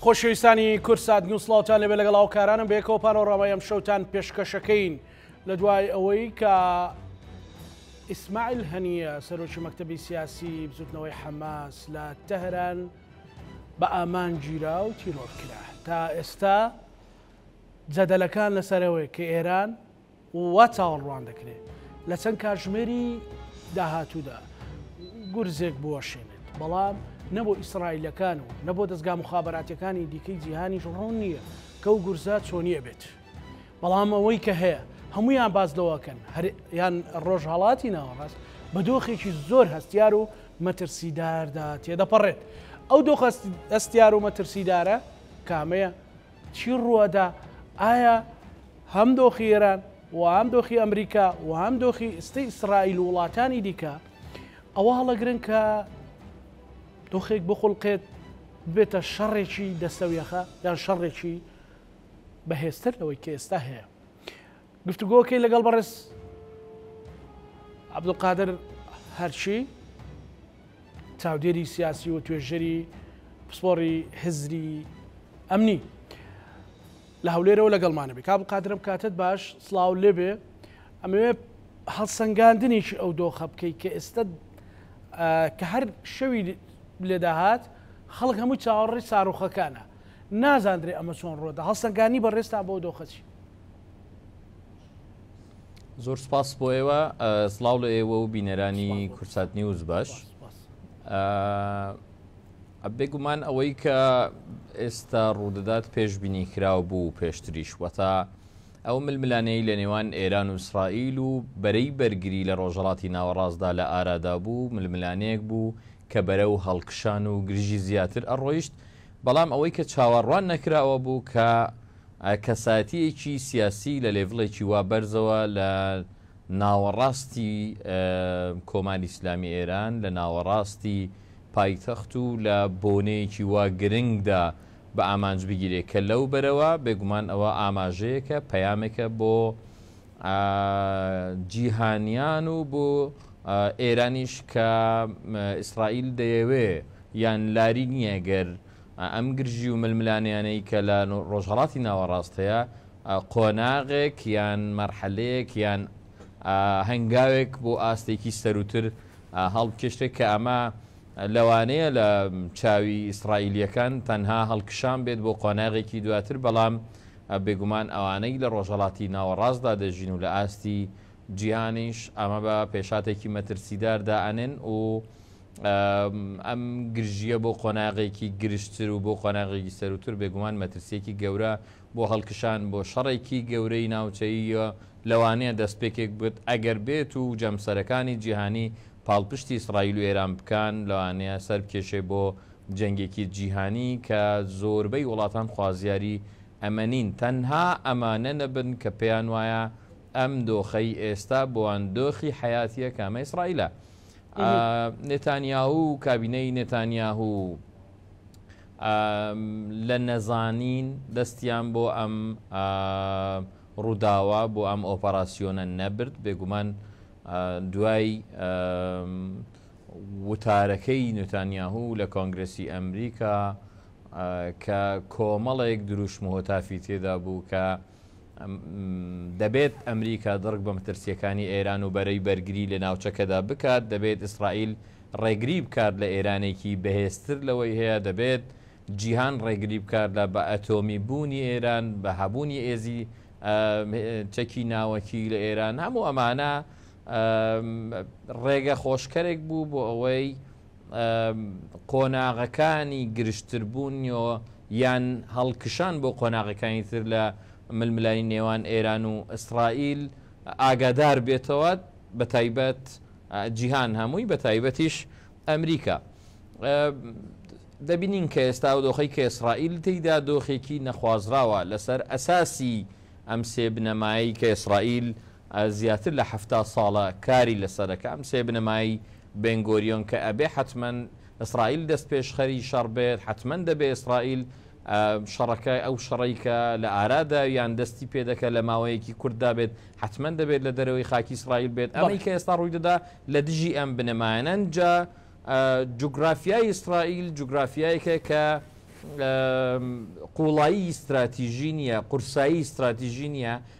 خۆشەویستانی کورسات نووسڵاوان لەبێ لەگەڵ هاوکارانم بێکەوە پانۆڕاوای ئەم شەوتان پێشکەشەکەین لە دوای ئەوەی کە ئیسماعیل هەنیە سەرۆکی مەکتتەبی سیاسی بزوتنەوەی حەماس لە تەهران بە ئامان گیرا و تیرۆر کرا تا ئێستا جەدەلەکان لەسەرەوەی کە ئێران وا چاوەڕوان دەکرێت لە چەند کاتژمێری داهاتوودا گورزێک بوەشێنێت، بەڵام نە بۆ ئیسرائیلەکان و نە بۆ دەستگا مخابراتەکانی دیکەی جیهانیش ڕوون نییە کە و گورزە چۆنیە بێت. بەڵام ئەوەی کە هەیە هەمویان باز لەوەکەن یان ڕۆژهڵاتی ناوەڕاست بە دۆخێکی زۆر هەستیار و مەترسیداردا تێدەپەڕێت ئەو دۆخ هەستیار و مەترسیدارە کامەیە چی ڕووەدا؟ ئایا هەم دۆخی ئێران و هەم دۆخی ئەمریکا و هەم دۆخی ئستی ئیسرائیل و وڵاتانی دیکە ئەوە هەڵەگرن کە دۆخێک بخڵقێت بێتە شەڕێکی دەستەویەخە یان شەڕێکی بەهێزتر لەوەی کە ئێستا هەیە گفتوگۆکەی لەگەڵ بەڕێز عبدقادر هەرچی چاودێری سیاسی و توێژەری پسپۆری هزری ئەمنی لە هەولێرەوە لەگەڵمانەبێ کاب قادرم کاتت باش سلااو لێبێ ئەمەوێ هەڵسەنگاندنیشی ئەو دۆخە بکەیت کە ئێستا کە هەر شەوی لێداهات خەڵک هەموو چاوەڕی ساروخەکانە نازاندرێ ئەمە چۆن ڕۆدا هەڵسەنگانی بەڕێستان بۆ دۆخەچی زۆر سپاس بۆ ئێوە سلااو لە ئێوە و بینەرانی کورسات نیوز باش بێگومان ئەوەی کە ئێستا ڕوودەدات پێشببینی کراو بوو پێشتریش وەتا ئەو ململانەی لە نێوان ئێران و ئیسرائیل و بەرەی بەرگری لە ڕۆژەڵاتی ناوەڕاستدا لە ئارادا بوو ململانەیەک بوو کە بەرە و هەڵکشان و گرژی زیاتر ئەڕۆیشت بەڵام ئەوەی کە چاوەڕوان نەکراوە بوو کە ئایا کەسایەتییەکی سیاسی لە لێڤڵێکی وا بەرزەوە لە ناوەڕاستی کۆماری ئیسلامی ئێران، لە ناوەڕاستی پایتەخت و لە بۆنەیەکی وا گرنگدا بە ئامانج بگیرێ کە لەو بەرەوە بێگومان ئەوە ئاماژەیەکە، پەیامێکە بۆ جیهانیان و بۆ ئێرانیش کە ئیسرائیل دەیەوێ یان لاری نییە گەر ئەم گرژی و ململانێیانەی کە لە ڕۆژهەڵاتی ناوەڕاست هەیە، قۆناغێک یان مەرحەلەیەک یان هەنگاوێک بۆ ئاستێکی سەرووتر هەڵبکێشرێت کە ئەمە لەوانەیە لە چاوی ئیسرائیلیەکان تەنها هەڵکشان بێت بۆ قۆناغێکی دواتر بەڵام بێگومان ئەوانەی لە ڕۆژهڵاتی ناوەڕاستدا دەژین و لە ئاستی جیهانیش ئەمە بە پێشاتێکی مەترسیداردا ئەنێن و ئەم گرژییە بۆ قۆناغێکی گرژتر و بۆ قۆناغێکی سەرووتر بێگومان مەترسیەکی گەورە بۆ هەڵکشان بۆ شەڕێکی گەورەی ناوچەییە لەوانەیە دەستپێکێک بێت ئەگەر بێت و جەمسەرەکانی جیهانی پاڵپشتی ئیسرائیل و ئێران بکەن لەوانەیە سەربکێشێ بۆ جەنگێکی جیهانی کە زۆربەی وڵاتان خوازیاری ئەمە نین تەنها ئەمانە نەبن کە پێیان وایە ئەم دۆخەی ئێستا بۆوان دۆخی حەیاتیە کامە ئیسرائیلە. نێتانیاهو و کابینەی نێتانیاهو لە نەزانین دەستیان بۆ ئەم ڕووداوە بۆ ئەم ئۆپەراسیۆنە نەبرد بێگومان دوای وتارەکەی نوتانیاهو لە کۆنگرسی ئەمریکا کە کۆمەڵێک دروشم هۆتافی تێدا بوو کە دەبێت ئەمریکا دڕک بە مەترسییەکانی ئێران و بەرەی بەرگری لە ناوچەکەدا بکات، دەبێت ئیسرائیل ڕێگری بکات لە ئێرانێکی بەهێزتر لەوەی هەیە، دەبێت جیهان ڕێگری بکات لە بە ئەتۆمی بوونی ئێران، بە هەبوونی هێزی چەکی ناوەکی لە ئێران، هەموو ئەمانە ڕێگە خۆشکەرێک بوو بۆ ئەوەی قۆناغەکانی گرژتربوونیۆ یان هەڵکشان بۆ قۆناغەکانی تر لە ململانی نێوان ئێران و ئیسرائیل ئاگادار بێتەوە بە تایبەت جیهان هەمووی بە تایبەتیش ئەمریکا دەبینین کە ئێستا و دۆخی کە ئیسرائیل تێیدا دۆخێکی نەخوازراوە لەسەر ئەساسی ئەم سێ بنەمایی کە ئیسرائیل زیاتر لە حەفتا ساڵە کاری لەسەرە کە ئەم سێ بنەمای بێن گۆریۆن کە ئەبێ حەتمەن ئیسرائیل دەست پێشخەری شەڕ بێت حەتمەن دەبێ ئیسرائیل شەڕەکە ئەو شەڕەی کە لە ئارادا یان دەستی پێدەکە لە ماوەیەکی کورتدا بێت حەتمەن دەبێت لە دەرەوەی خاکی ئیسرائیل بێت ئەمەی کە ئێستا ڕووی دەدا لە دژی ئەم بنەمایانە جا جوگرافیای ئیسرائیل جوگرافیایەکە کە قوڵایی ئیستراتیژی نییە قورسایی ئیستراتیژی نییە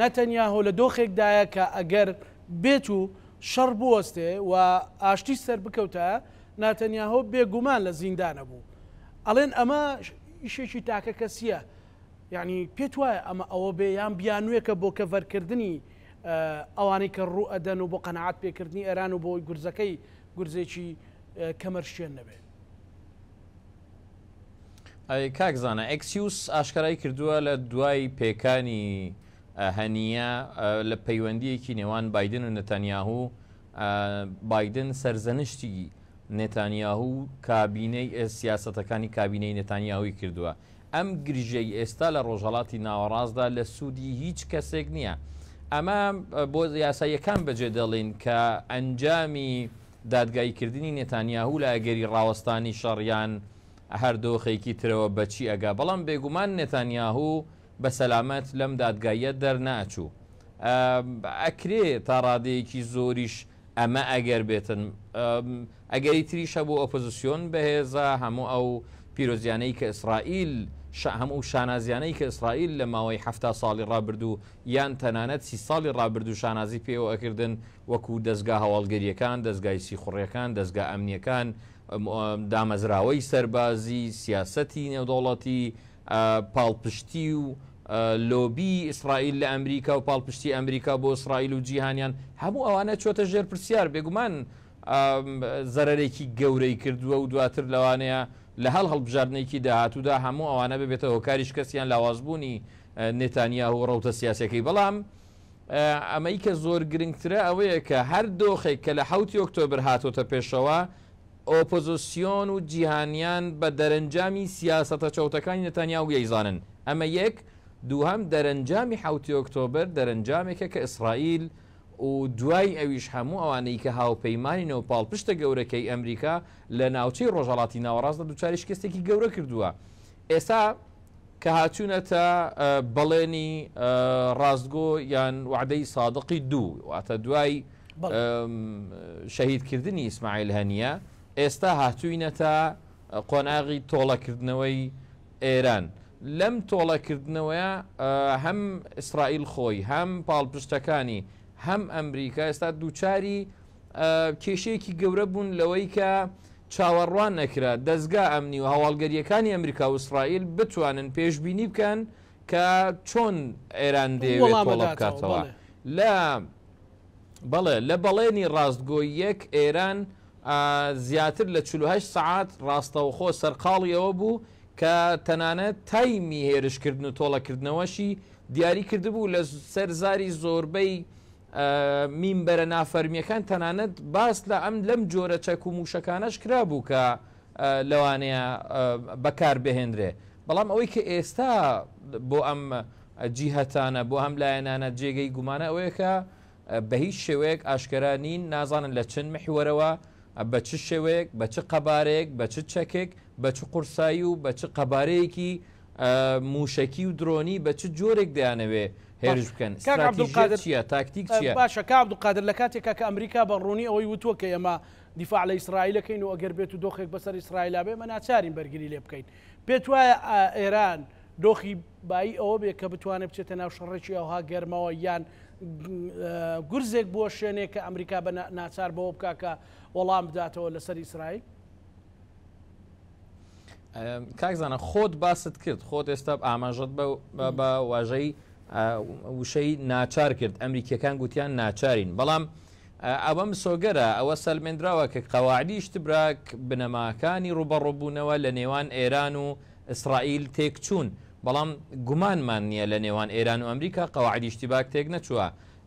ناتانیاهۆ لە دۆخێکدایە کە ئەگەر بێت و شەڕ بوەستێ و ئاشتیش سەربکەوتایە، ناتانیاهۆ بێ گومان لە زیندان ئەبوو. ئەڵێن ئەمە ئیشێکی تاکەکەسییە. یانی پێت وایە ئەمە ئەوە بێ یان بیانووێکە بۆ کەڤەرکردنی ئەوانەی کە ڕوو ئەدەن و بۆ قەناعەت پێکردنی ئێران و بۆ ئەوەی گورزەکەی گورزێکی کەمەرشکێن نەبێ؟ ئەی کاک زانا ئەکسیوس ئاشکرای کردووە لە دوای پێکانی هەنیە لە پەیوەندیەکی نێوان بادن و نەتەنیاهو بادن سەرزەنشتی نێتانیاهو کابینەی سیاستەکانی کابینەی نێتانیاهوی کردووە ئەم گرژەی ئێستا لە ڕۆژهڵاتی ناوەڕاستدا لە سوودی هیچ کەسێک نییە ئەمە بۆ یاساییەکان بەجێ دەڵین کە ئەنجامی دادگاییکردنی نێتانیاهو لە ئەگەری ڕاوەستانی شەڕ یان هەر دۆخێکی ترەوە بە چی ئەگا، بەڵام بێگومان نێتانیاهو بە سەلامەت لەم دادگاییە دەرنەئەچوو. ئەکرێ تا ڕادەیەکی زۆریش ئەمە ئەگەر بێتن. ئەگەری تریش هەبوو ئۆپۆزسیۆن بەهێزە، هەموو ئەو پیرۆزیانەی کە ئیسرائیل، هەموو ئەو شانازیانەی کە ئیسرائیل لە ماوەی حەفتا ساڵی ڕابردوو، یان تەنانەت سی ساڵی ڕابردوو شانازی پێوە ئەکردن وەکو دەزگا هەواڵگریەکان، دەزگای سیخوڕیەکان، دەزگا ئەمنیەکان، دامەزراوەی سەربازی، سیاسەتی نێودەوڵەتی، پاڵپشتی و لۆبی ئیسرائیل لە ئەمریکا و پاڵپشتی ئەمریکا بۆ ئیسرائیل و جیهانیان هەموو ئەوانە چۆتە ژێر پرسیار بێگومان زەرەرێکی گەورەی کردووە و دواتر لەوانەیە لە هەڵ هەڵبژاردنێکی داهاتوودا هەموو ئەوانە ببێتە هۆکاری شکستیان لاوازبوونی نێتانیاهو و ڕەوتە سیاسیەکەی، بەڵام ئەمەی کە زۆر گرنگترە ئەوەیە کە هەر دۆخێک کە لە حەوتی ئۆکتۆبر هاتۆتە پێشەوە، ئۆپۆزسیۆن و جیهانیان بە دەرەنجامی سیاسەتە چەوتەکانی نێتانیاهو یەیزانن. ئەمە یەک، دووهەم دەرەنجامی حەوتی ئۆکتۆبر دەرەنجامێکە کە ئیسڕائیل و دوای ئەویش هەموو ئەوانەی کە هاوپەیمانین و پاڵپشتە گەورەکەی ئەمریکا لە ناوچەی ڕۆژهەڵاتی ناوەڕاستدا دووچاری شکستێکی گەورە کردووە. ئێستا کە هاتوونەتە بەڵێنی ڕاستگۆ یان وەعدەی سادقی دوو، واتە دوای شەهیدکردنی ئیسماعیل هەنیە، ئێستا هاتووینەتە قۆناغی تۆڵەکردنەوەی ئێران. لەم تۆڵەکردنەوەیە هەم ئیسرائیل خۆی، هەم پاڵپشتەکانی، هەم ئەمریکا ئێستا دووچاری کێشەیەکی گەورە بوون لەوەی کە چاوەڕوان نەکرا دەزگا ئەمنی و هەواڵگەریەکانی ئەمریکا و ئیسرائیل بتوانن پێشببینی بکەن کە چۆن ئێران دێوێت تۆڵە بکاتەوە لە بەڵێ لە بەڵێنی ڕاستگۆ یەک ئێران زیاتر لە 48 سعات ڕاستەوخۆ سەرقاڵی ئەوە بوو کە تەنانەت تایمی هێرشکردن و تۆڵەکردنەوەشی دیاری کردبوو لە سەر زاری زۆربەی مینبەرە نافەرمییەکان تەنانەت باس لە ئەم لەم جۆرە چەک و مووشەکانەش کرابوو کە لەوانەیە بەکاربهێنرێ بەڵام ئەوەی کە ئێستا بۆ ئەم جیهتانە بۆ هەم لایەنانە جێگەی گومانە ئەوەیە کە بە هیچ شێوەیەک ئاشکرا نین نازانن لە چند محوەرەوە ئە بە چ شێوەیەک، بە چ قەبارەیەک، بە چ چەکێک، بە چ قورسایی و بە چ قەبارەیەکی ئە مووشەکی و درۆنی بە چ جۆرێک دەیانەوێ هێرش باشە بکەن، کاک ستراتیژیەت عەبدولقادر چییە، تاکتیک ئە چییە؟ باشە کاک عەبدولقادر لە کاتێکا کە ئەمریکا بە ڕوونی ئەوەی وتووە کە ئێمە دیفاع لە ئیسرائیل ئەکەین و ئەگەر بێتوو دۆخێک بەسەر ئیسرائیلا بێ ئێمە ناچارین بەرگری لێ بکەین پێت وایە ئە ئێران دۆخی بایی ئەوە بێ کە بتوانێ بچێتە ناو شەڕێکی ئەوها گەرمەوە یان گورزێک بووە شوێنێک کە ئەمریکا بە ناچار بەوە بک کە وەڵام بداتەوە لەسەر ئیسرائیل کاکزانە خۆت باست کرد خۆت ئێستا ئاماژت بە واژەی وشەی ناچار کرد ئەمریکیەکان گوتیان ناچارین بەڵام ئەوە مسۆگەرە ئەوە سەلمێنراوە کە قەواعدی شتبراک بنەماکانی ڕوبەڕۆبوونەوە لە نێوان ئێران و ئیسرائیل تێکچوون، بەڵام گومانمان نییە لە نێوان ئێران و ئەمریکا قەواعیدی ئیشتیباک تێکنەچووە.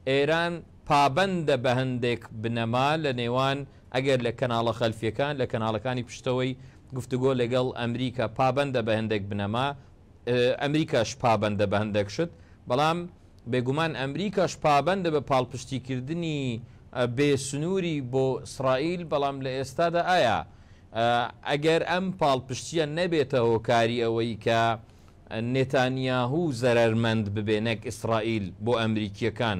ئێران پابەندە بە هەندێک بنەما لە نێوان ئەگەر لە کەناڵە خەلفییەکان، لە کەناڵەکانی پشتەوەی گفتوگۆ لەگەڵ ئەمریکا پابەندە بە هەندێک بنەما، ئەمریکاش پابەندە بە هەندێک شت، بەڵام بێگومان ئەمریکاش پابەندە بە پاڵپشتیکردنی بێ سنووری بۆ ئیسرائیل، بەڵام لە ئێستادا ئایا ئەگەر ئەم پاڵپشتییە نەبێتە هۆکاری ئەوەی کە نێتانیاهو زەرەرمەند ببێ نەک ئیسرائیل بۆ ئەمریکییەکان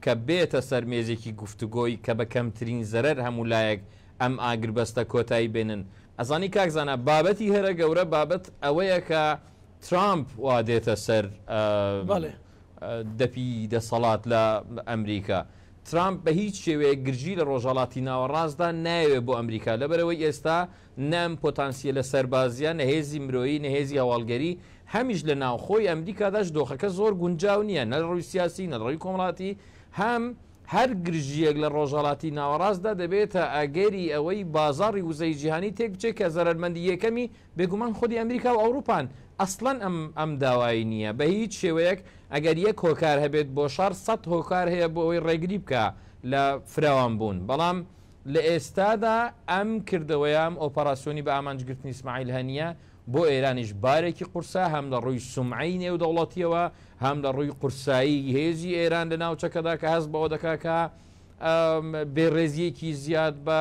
کە بێتە سەر مێزێکی گفتوگۆی کە بە کەمترین زەرەر هەموو لایەک ئەم ئاگربەستە کۆتایی بێنن؟ ئەزانی کاک زانا بابەتی هەرە گەورە بابەت ئەوەیە کە ترامپ وا دێتە سەر بەڵێ. دەپی دەسەڵات لە ئەمریکا. ترامپ بە هیچ شێوەیەک گرژی لە ڕۆژهەڵاتی ناوەڕاستدا نایەوێت بۆ ئەمریکا لەبەرەوەی ئێستا نە ئەم پۆتانسییەلە سەربازییە نە هێزی مرۆیی نە هێزی هەواڵگەری هەمیش لە ناوخۆی ئەمریکاداش دۆخەکە زۆر گونجاو نییە نە لە ڕووی سیاسی نە لە ڕووی کۆمەڵاتی هەم هەر گرژییەک لە ڕۆژهەڵاتی ناوەڕاستدا دەبێتە ئەگەری ئەوەی بازاڕی وزەی جیهانی تێکبچێت کە زەرەرمەندی یەکەمی بێگومان خودی ئەمریکا و ئەوروپان ئەسڵەن ئەم ئەم داوای نییە بە هیچ شێوەیەک، ئەگەر یەک هۆکار هەبێت بۆ شەڕ سەد هۆکار هەیە بۆ ئەوەی ڕێگری بکا لە فراوان بوون، بەڵام لە ئێستادا ئەم کردەوەیە، ئەم ئۆپەراسیۆنی بە ئامانج گرتنی ئیسماعیل هەنییە بۆ ئێرانیش بارێکی قورسە هەم لە ڕووی سومعەی نێودەوڵەتییەوە هەم لە ڕووی قورسایی هێزی ئێران لە ناوچەکەدا کە هەست بەوە دەکا کە بێڕێزییەکی زیاد بە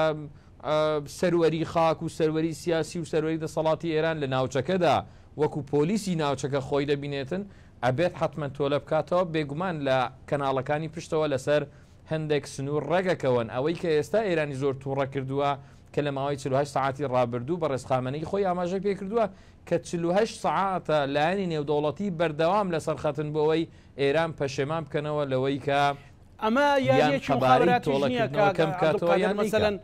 سەروەری خاک و سەروەری سیاسی و سەروەری دەسەڵاتی ئێران لە ناوچەکەدا وەکو پۆلیسی ناوچەکە خۆی دەبینێتن ئەبێت حتممە تۆلە بکاتەوە بێگومان لە کەناڵەکانی پشتەوە لەسەر هەندێک سنوور ڕێگەکەون ئەوەی کە ئێستا ئێرانی زۆر تووڕە کردووە کە لە ماوەی 48 ساعتی ڕابردوو بە ڕێزخامەنەی خۆی ئاماژەی پێکردووە کە 48 ساعتە لایەنی نێودەوڵەتی بەردەوام لەسەر خەتن بۆەوەی ئێران پەشێمان بکەنەوە لەوەی کە ئەمە یاریەکی موخابەراتیش نیە کاک عەبدولقادر مەسەلەن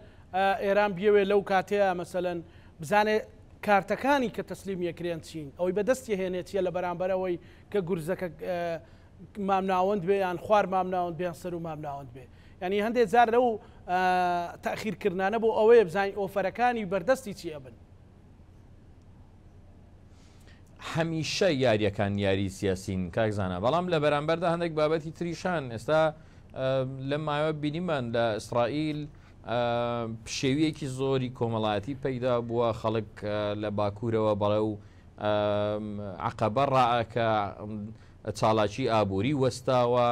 ئێران بیەوێ لەو کاتەیە مەسەلەن بزانێ کارتەکانی کە تەسلیم یەکرێن چین ئەوەی بەدەست یەهێنێ چیە لە بەرامبەرەوەی کە گورزەکە مامناوەند بێ یان خوار مامناوەند بێن سەر و مامناوەند بێ ینی هەندێک جار لەو تاخیرکردانە بۆ ئەوەیە بزانین ئۆفەرەکانی بەردەستی چی ئەبن هەمیشە یاریەکان یاری سیاسین کاک زانە بەڵام لە بەرامبەردا هەندێک بابەتی تریشان ئێستا لە ماوە بینیمان لە ئیسرائیل پشێویەکی زۆری کۆمەڵایەتی پەیدا بووە خەڵک لە باکوورەوە بەڵێ و عقبە ڕائەکە چاڵاکی ئابووری وەستاوە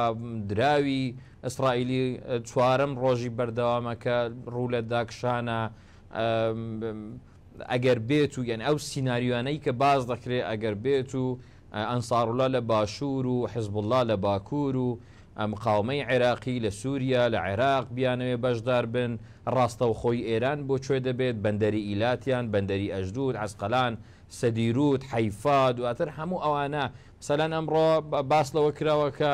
دراوی ئیسرائیلی چوارم ڕۆژی بەردەوامەکە ڕوو لە داکشانە ئەگەر بێت و یەن ئەو سینناریوانەی کە باز دەکرێت ئەگەر بێت و ئەنساڕولا لە باشوور و حزبله لە باکوور و مقاومەی عێراقی لە سووریا لە عێراق بیانەوێ بەشدار بن ڕاستەوخۆی ئێران بۆ کوێ دەبێت بەندەری ئیلاتیان بەندەری ئەژدود عسقلان سەدیروت حیفا دواتر هەموو ئەوانە سەلەن ئەمڕۆ باس لەوە کراوە کە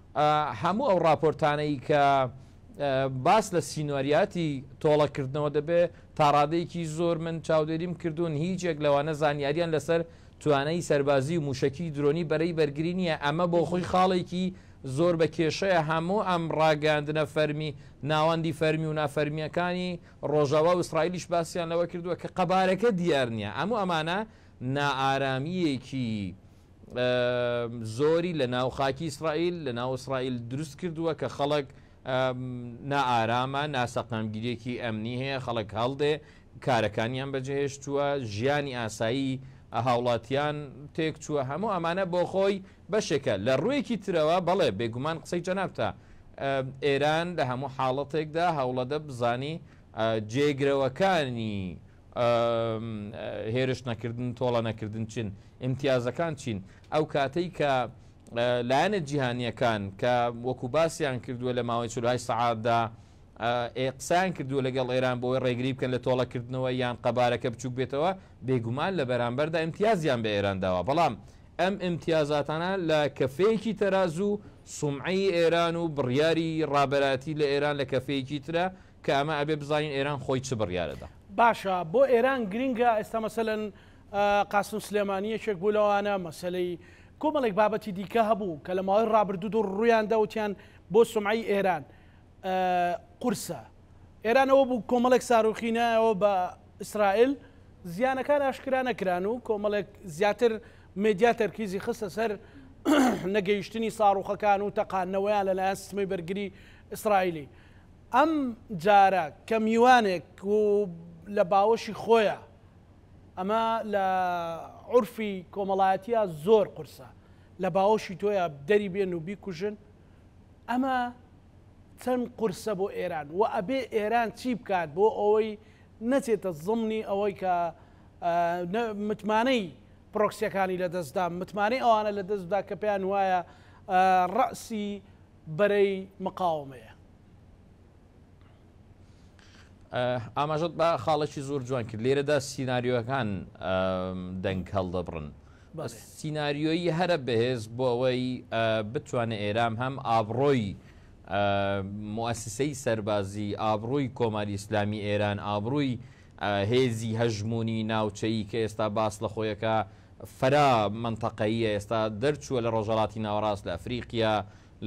هەموو ئەو ڕاپۆرتانەی کە باس لە سینۆریاتی تۆڵە کردنەوە دەبێ تاڕادەیەکی زۆر من چاودێریم کردوون هیچ یەک لەوانە زانیاریان لەسەر توانای سەربازی و موشەکی درۆنی بەرەی بەرگری نییە ئەمە بۆ خۆی خاڵێکی زۆر بە کێشەیە هەموو ئەم ڕاگەاندنە فەرمی ناوەندی فەرمی و نافەرمیەکانی ڕۆژاوا و ئیسرائیلیش باسییان لەوە کردووە کە قەبارەکە دیار نییە ئەموو ئەمانە نائارامیەکی زۆری لە ناو خاکی ئیسرائیل لە ناو ئیسرائیل دروست کردووە کە خەڵک نائارامە ناسەقامگیریەکی ئەمنی هەیە خەڵک هەڵدێ کارەکانیان بەجهێشتووە ژیانی ئاسایی هاوڵاتیان تێک چووە هەموو ئەمانە بۆ خۆی بەشێکە لە ڕوویەکی ترەوە بەڵێ بێگومان قسەی جەنابتە ئێران لە هەموو حاڵەتێکدا هەوڵەدە بزانی جێگرەوەکانی هێرش نەکردن، تۆڵە نەکردن چین؟ ئیمتیازەکان چین؟ ئەو کاتەی کە لایەنە جیهانییەکان کە وەکو باسیان کردووە لە ماوەی چل هەشت سەعاتدا ئێ قسەیان کردووە لەگەڵ ئێران بۆی ڕێگری بکەن لە تۆڵەکردنەوە یان قەبارەکە بچووک بێتەوە، بێگومان لە بەرامبەردا ئیمتیازیان بە ئێران داوە، بەڵام ئەم ئیمتیازاتانە لە کەفەیەکی تەرازوو سومعەی ئێران و بڕیاری ڕابەرایەتی لە ئێران لە کەفەیەکی ترە، کە ئەمە ئەبێ بزانین ئێران خۆی چ بڕیارە دا. باشە بۆ ئێران گرینگە ئێستا مەسەلەن قاسم سلێمانی یەکێک بوو لەوانە مەسەلەی کۆمەڵێک بابەتی دیکە هەبوو کە لە ماوەی ڕابردوود و ڕوویان دەوتیان بۆ سمعی ئێران قورسە ئێرانەوە بوو کۆمەڵێک ساروخی نایەوە بە ئیسرائیل زیانەکان ئاشکرا نەکران و کۆمەڵێک زیاتر مدیا تەرکیزی خستە سەر نەگەیشتنی ساڕوخەکان و تەقانەوەیان لەلایەن سمەی بەرگری ئیسرائیلی ئەم جارە کە میوانێک و لە باوەشی خۆیە ئەمە لە عورفی کۆمەڵایەتیە زۆر قورسە لە باوەشی تۆیە دەری بێن و بیکوژن ئەمە چەند قورسە بۆ ئێران و ئەبێ ئێران چی بکات بۆ ئەوەی نەچێتە زمنی ئەوەی کە متمانەی پرۆکسیەکانی لە دەستدا متمانەی ئەوانە لە دەستدا کە پێیان وایە ڕەسی بەرەی مقاومەیە. ئاماژەت بە خاڵێکی زۆر جوان کرد لێرەدا سینناریۆەکان دەنگ هەڵدەبڕن سینناریۆیی هەرە بەهێز بۆ ئەوەی بتوانێت ئێرام هەم ئابڕۆی موسسەی سەربازی ئابرووی کۆماری ئیسلامی ئێران ئابرووی هێزی هەژموونی ناوچەیی کە ئێستا باس لە خۆی ئەکا فرە مەنتەقەییە ئێستا دەرچووە لە ڕۆژهەڵاتی ناوەڕاست لە ئەفریقیا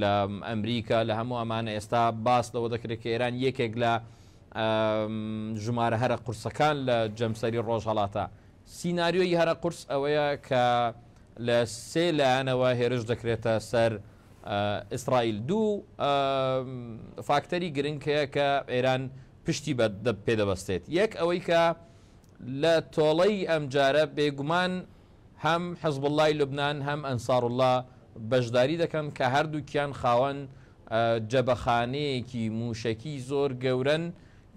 لە ئەمریکا لە هەموو ئەمانە ئێستا باس لەوە دەکرێت کە ئێران یەکێک لە ژمارە هەرە قورسەکان لە جەمسەری ڕۆژهەڵاتە سیناریۆی هەرە قورس ئەوەیە کە لە سێ لایەنەوە هێرش دەکرێتە سەر ئیسرائیل دوو فاکتەری گرنگ هەیە کە ئێران پشتی بە پێ دەبەستێت، یەک ئەوەی کە لە تۆڵەی ئەمجارە بێگومان هەم حزبوڵڵای لوبنان هەم ئەنساروڵڵا بەشداری دەکەن کە هەردووکیان خاوەن جبەخانەیەکی مووشەکی زۆر گەورەن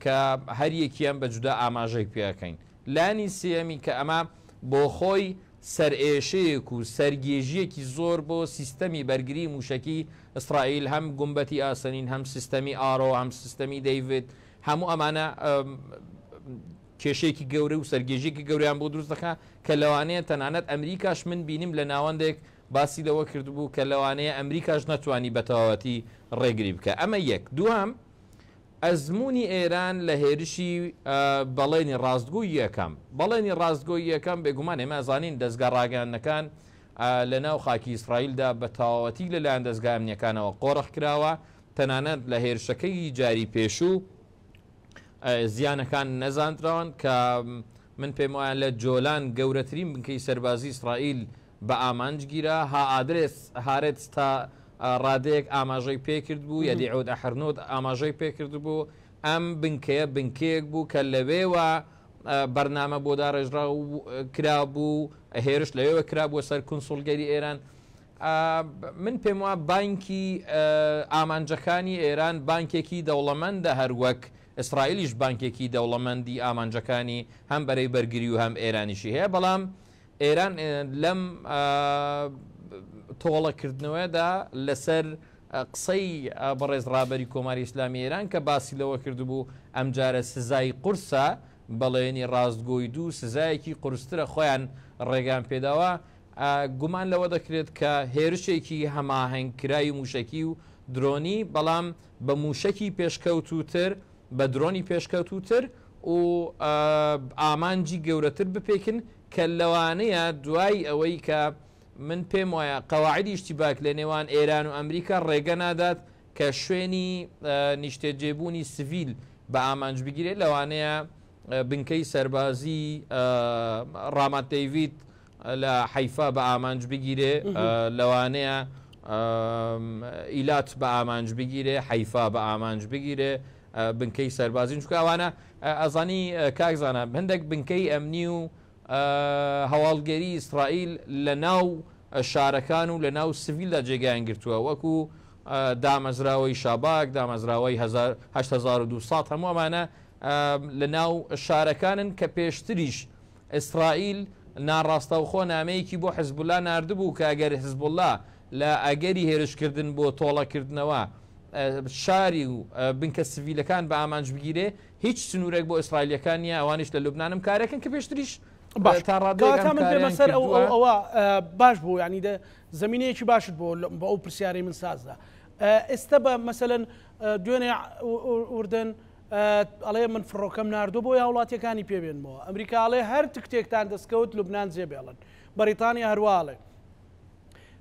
کە هەریەکیان بە جودا ئاماژەی پێ ئەکەین. لانی سێیەمی کە ئەمە بۆخۆی سەرئێشەیەک و سەرگێژییەکی زۆر بۆ سیستەمی بەرگری مووشەکی ئیسرائیل، هەم گومبەتی ئاسەنین، هەم سیستەمی ئارۆ، هەم سیستەمی دەیڤد، هەموو ئەمانە کێشەیەکی گەورە و سەرگێژیەکی گەوریان بۆ دروست دەکا کە لەوانەیە تەنانەت ئەمریکاش من بینیم لە ناوەندێک باسی لەوە کردبوو کە لەوانەیە ئەمریکاش نەتوانی بەتەواوەتی ڕێگری بکە ئەمە یەک دوام ئەزموونی ئێران لە هێرشی بەڵێنی ڕاستگۆی یەکەم. بەڵێنی ڕاستگۆی یەکەم، بێگومان ئێمە ئەزانین دەزگا ڕاگەیاندنەکان لە ناو خاکی ئیسرائیلدا بە تەواوەتی لە لایەن دەزگا ئەمنییەکانەوە قۆرخ کراوە، تەنانەت لە هێرشەکەی جاری پێشوو زیانەکان نەزاندراون کە من پێم وایە لە جۆلان گەورەترین بنکەی سەربازی ئیسرائیل بە ئامانج گیرا، هائادرێس هارێتس تا ڕادەیەک ئاماژەی پێکردبوو، یەدیعود ئەحرنوت ئاماژەی پێکردبوو، ئەم بنکەیە بنکەیەک بوو کە لەوێوە بەرنامە بۆ داڕێژراو کرابوو، هێرش لەوێوە کرابووە سەر کونسوڵگەری ئێران. من پێم وا بانکی ئامانجەکانی ئێران بانکێکی دەوڵەمەندە هەر وەک ئیسرائیلیش بانکێکی دەوڵەمەندی ئامانجەکانی هەم بەرەی بەرگری و هەم ئێرانیشی هەیە بەڵام ئێران لەم تۆڵە کردنەوەدا لەسەر قسەی بەڕێز ڕابەری کۆماری ئیسلامی ئێران کە باسی لەوە کردبوو ئەمجارە سزای قورسە بەڵێنی ڕاستگۆی دوو سزایەکی قورسترە خۆیان ڕێگان پێداوە گومان لەوە دەکرێت کە هێرشێکی هەماهنگ کرای موشکی و درۆنی بەڵام بە موشکی پێشکەوتوتر بە درۆنی پێشکەوتووتر و ئامانجی گەورەتر بپێکن کە لەوانەیە دوای ئەوەی کە من پێم وایە قواعدی اشتباک لە نێوان ئێران و ئەمریکا ڕێگە نادات کە شوێنی نیشتەجێبوونی سڤیل بە ئامانج بگیرێت لەوانەیە بنکەی سەربازی ڕامات دەیڤید لە حەیفا بە ئامانج بگیرێ لەوانەیە ئیلات بە ئامانج بگیرێ حەیفا بە ئامانج بگیرێ بنکەی سەربازین چکوانە ئەزانی کاکزانە هەندێک بنکەی ئەمنی و هەواڵگەری ئیسرائیل لە ناو شارەکان و لە ناو سڤیلدا جێگایان گرتووە وەکو دامەزراوەی شاباک دامەزراوەی 1970 هەموو ئەمانە لە ناو شارەکانن کە پێشتریش ئیسرائیل ناڕاستەوخۆ نامەیەکی بۆ حزبوڵلا ناردبوو کە ئەگەر حزبوڵلا لە ئەگەری هێرشکردن بۆ تۆڵەکردنەوە شاری و بنکە سڤیلەکان بە ئامانج بگیرێ هیچ سنوورێک بۆ ئیسرائیلەکان نیە ئەوانش لە لوبنانم کارەکەن کە پێشتریش باش تا ڕادێک من پێمە سەر ئەو ئەوە باش بوو ینی دە زمینەیەکی باشت بۆ بە ئەو پرسیارەی من سازدا ئێستا بە مەسەن دوێنێ وردن ئەڵێ من فڕۆکەم ناردووە بۆی هاوڵاتیەکانی پێ بێنمەوە ئەمریکا ئەڵێ هەر تکتێکتان دەستکەوت لوبنان جێ بێڵن بەریتانیا هەروا ئەڵێ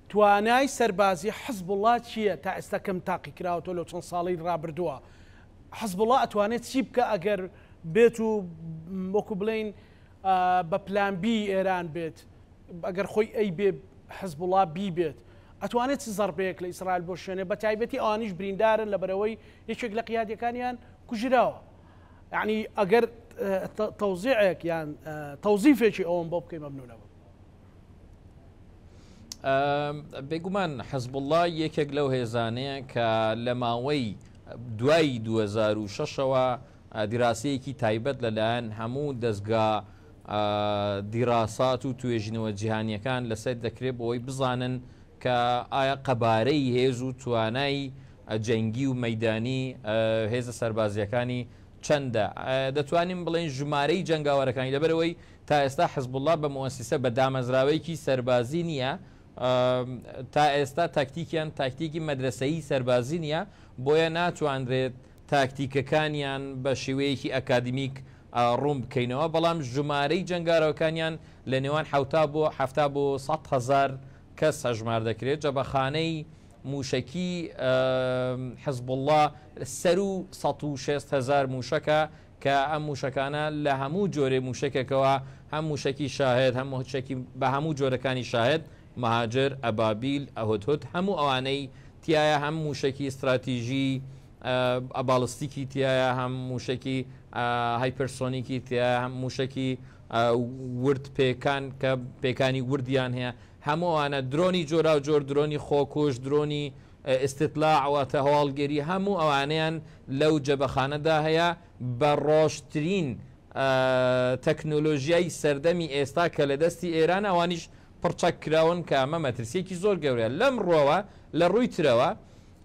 توانای سەربازی حزب وڵا چییە تا ئێستا کەم تاقی کراوەەوە لەو چەند ساڵی ڕابردووە حزب وڵا ئەتوانێت چی بکە ئەگەر بێت و وەکو بڵین بە پلانبی ئێران بێت ئەگەر خۆی ئەیبێ حزبوڵا بیبێت ئەتوانێت چ زەڕبەیەک لە ئیسرائیل بۆشێنێ بە تایبەتی ئەوانیش بریندارن لە بەرەوەی یەکێک لە قیادیەکانیان کوژراوە یعنی ئەگەر تەوزیعێک یان تەوزیفێکی ئەوم بۆ بکەی مەمنونە بم بێگومان حەزبله یەکێک لەو هێزانەیە کە لە ماوەی دوای 2006ەوە دیراسەیەکی تایبەت لە لایەن هەموو دەزگا دیراسات و توێژینەوە جیهانیەکان لە سەر دەکرێت بۆی بزانن کە ئایا قەبارەی هێز و توانای جەنگی و مەدانی هێزە سەربازیەکانی چەندە دەتوانین بڵێن ژمارەی جەنگاوەرەکانی لەبەرەوەی تا ئێستا حزبله بە موسیسە بە دامەزراوەیەکی سەربازی نییە تا ئێستا تاکتیکیان تاکتیکی مەدرسەی سەربازی نییە بۆیە ناتواندرێت تاکتیکەکانیان بە شێوەیەکی ئەکادیمیک ڕوون بکەینەوە، بەڵام ژمارەی جەنگارەوەکانیان لە نێوان حەوتا بۆ حەفتا بۆ سەد هەزار کەس هەژمار دەکرێت، جبەخانەی مووشەکی حزبوڵڵا سەروو سەد و شێست هەزار مووشەکە کە ئەم مووشەکانە لە هەموو جۆرێ مووشەکێکەوە هەم مووشەکی شاهێد هەم مووشەکی بە هەموو جۆرەکانی شاهێد، مەهاجر، ئەبابیل، هودهود هەموو ئەوانەی تیایە هەم موشەکی ستراتیژی باڵستیکی تیایە هەم موشەکی هایپرسۆنیکی تیایە هەم موشەکی ورد پێکان کە پێکانی وردیان هەیە هەموو ئەوانە درۆنی جۆراو جۆر درۆنی خۆکوش درۆنی ئستتلا ئەواتە هەواڵگەری هەموو ئەوانەیان لەو جەبەخانەدا هەیە بە ڕۆشترین تەکنۆلۆژیای سەردەمی ئێستا کە لە دەستی ئێرانە ئەوانیش پڕچەک کراون کە ئەمە مەترسییەکی زۆر گەورەیە. لەم ڕووەوە، لە ڕووی ترەوە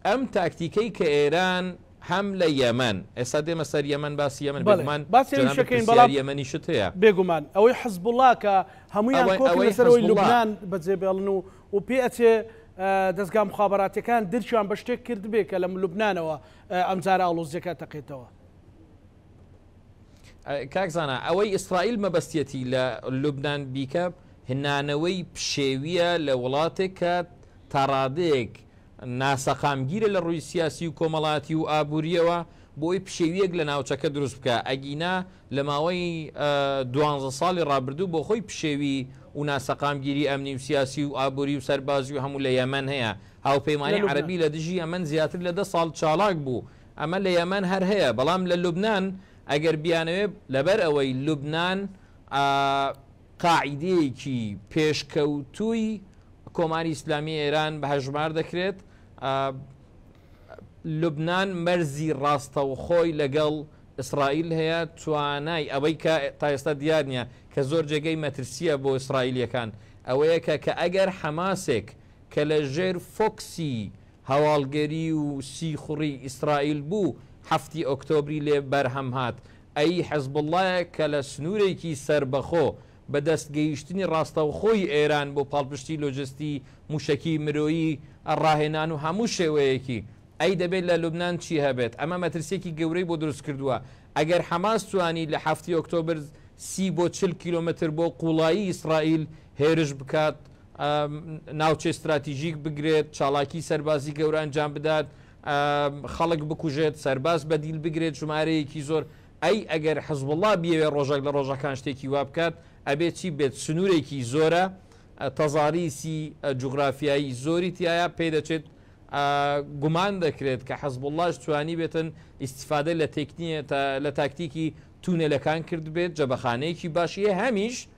ئەم تاکتیکەی کە ئێران هەم لە یەمەن، ئێستا دێمە سەر یەمەن باسی یەمەن بەڵێ بێگومان باسی ئەویش جەنابت ئەکەین بەڵام پرسیاری یەمەنیشت هەیە. بێگومان ئەوەی حزبوڵا کە هەموویان ئەوەی کۆکن ئەوەی لەسەر ئەوەی حزبوڵا. لوبنان بەجێ بێڵن و و پێ ئەچێ ئە دەزگا موخابەراتیەکان درکیان بە شتێک کردبێ کە لە لوبنانەوە ئە ئەمجارە ئاڵۆزیەکە ئەتەقێتەوە. کاک زانا ئەوەی ئیسرائیل مەبەستیەتی لە لوبناان بیکە هنانەوەی پشێویە لە وڵاتێک کە تاڕادەیەک ناسەقامگیرە لە ڕووی سیاسی و کۆمەڵاتی و ئابوووریەوە بۆی پشێویەک لە ناوچەکە دروست بکە ئەگینا لە ماوەی دوانزە ساڵی ڕابردوو بۆ خۆی پشێوی و ناسەقامگیری ئەمنی و سیاسی و ئابووری و سەربازی و هەموو لە یەمەن هەیە هاوپەیمانانی عەربی لە دژی ئەمەن زیاتر لە دە ساڵ چاڵاک بوو ئەمە لە یەمەن هەر هەیە بەڵام لە لوبنان ئەگەر بیانەوێ لەبەر ئەوەی لوبنان ئە قاعیدەیەکی پێشکەوتووی کۆماری ئیسلامی ئێران بە هەژمار دەکرێت ئە لوبنان مەرزی ڕاستەوخۆی لەگەڵ ئیسرائیل هەیە توانای ئەوەی کە تا ئێستا دیار نییە کە زۆر جێگەی مەترسیە بۆ ئیسرائیلەکان ئەوەیە کە کە ئەگەر حەماسێک کە لە ژێر فۆکسی هەواڵگری و سیخوڕی ئیسرائیل بوو حەفتی ئۆکتۆبری لێ بەرهەم هات، ئەی حزبوڵڵایە کە لە سنوورێکی سەربەخۆ بە دەست گەیشتنی ڕاستەوخۆی ئێران بۆ پاڵپشتی لۆجستی، مووشەکی، مرۆیی، ڕاهێنان و هەموو شێوەیەکی ئەی دەبێت لە لوبنان چی هەبێت ئەمە مەترسیەکی گەورەی بۆ دروست کردووە ئەگەر حەماس توانی لە حەفتی ئۆکتۆبر سی بۆ چل کیلۆمەتر بۆ قوڵایی ئیسرائیل هێرش بکات، ناوچەی ستراتیژیک بگرێت، چاڵاکی سەربازی گەورە ئەنجام بدات، خەڵک بکوژێت، سەرباز بەدیل بگرێت ژمارەیەکی زۆر، ئەی ئەگەر حزبوڵڵا بیەوێت ڕۆژێک لە ڕۆژەکان شتێکی وا بکات ئەبێت چی بێت؟ سنوورێکی زۆرە، تەزاریسی جوغرافیایی زۆری تیایە، پێ دەچێت گومان دەکرێت کە حزبوڵڵاش توانیبێتن ئیستیفادە لە تاکتیکی تونێلەکان کردبێت، جبەخانەیەکی باشی هەمیش،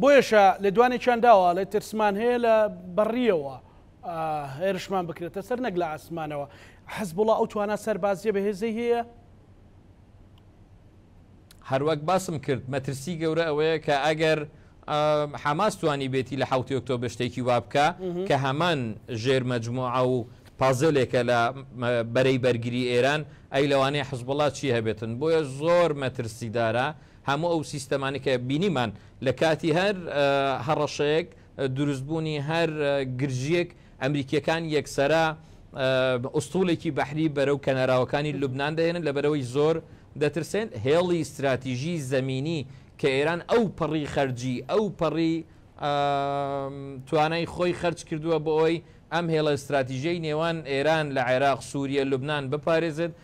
بۆیەشە لێدوانێکیان داوە، ئەڵێت ترسمان هەیە لە بەڕییەوە هێرشمان بکرێتە سەر نەک لە ئاسمانەوە. حزبوڵا ئەو توانا سەربازییە بەهێزەی هەیە؟ هەروەک باسم کرد مەترسی گەورە ئەوەیە کە ئەگەر حەماس توانی بێتی لە حوتی ئۆکتۆ بشتێکی وا بکە کە هەمان ژێر مەجموعە و پازلێکە لە بەرەی بەرگری ئێران ئەی لەوانەیە حزبڵات چی هەبێتن بۆیە زۆر مەترسیدارە هەموو ئەو سیستەمانەی کە بینیمان لە کاتی هەر هەڕەشەیەک، دروستبوونی هەر گرژییەک، ئەمریکییەکان یەکسەرە ئوستوڵێکی بەحری بەرەو کەناراوەکانی لوبنان دەهێنن، لەبەرئەوەی زۆر دەترسێن هێڵی ستراتیژی زەمینی کە ئێران ئەو پەڕی خەرجی، ئەو پەڕی توانای خۆی خەرج کردووە بۆ ئەوەی ئەم هێڵە ستراتیژیەی نێوان ئێران لە عێراق، سووریە، لوبنان بپارێزێت،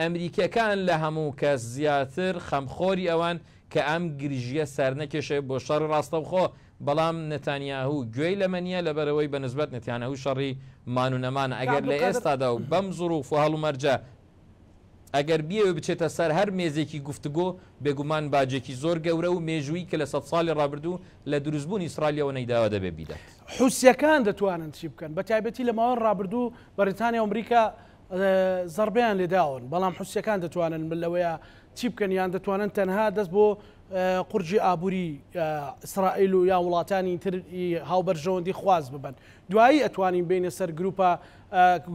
ئەمریکیەکان لە هەموو کەس زیاتر خەمخۆری ئەوەن کە ئەم گرژییە سەرنەکێشێ بۆ شەڕی ڕاستەوخۆ، بەڵام نەتانیاهو گوێی لەمە نییە لەبەرئەوەی بە نسبەت نەتانیاهو شەڕی مان و نەمانە ئەگەر لە ئێستادا و بەم زڕوف و هەڵومەرجە ئەگەر بیەوێ بچێتە سەر هەر مێزێکی گفتوگۆ بێگومان باجێکی زۆر گەورە و مێژوویی کە لە سەد ساڵی ڕابردوو لە دروستبوونی ئیسڕائیلەوە نەیداوە دەبێ بیدات. حوسیەکان دەتوانن چی بکەن؟ بەتایبەتی لە ماوەی ڕابردوو بەڕیتانیا و ئەمریکا زەڕبەیان لێداون، بەڵام حوسییەکان دەتوانن لەوەیە چی بکەن یان دەتوانن تەنها دەست بۆ قورجی ئابووری ئیسرائیل و یا وڵاتانی تر ی هاوبەرژەوەندی خواز ببەن. دوایی ئەتوانین بێینە سەر گروپە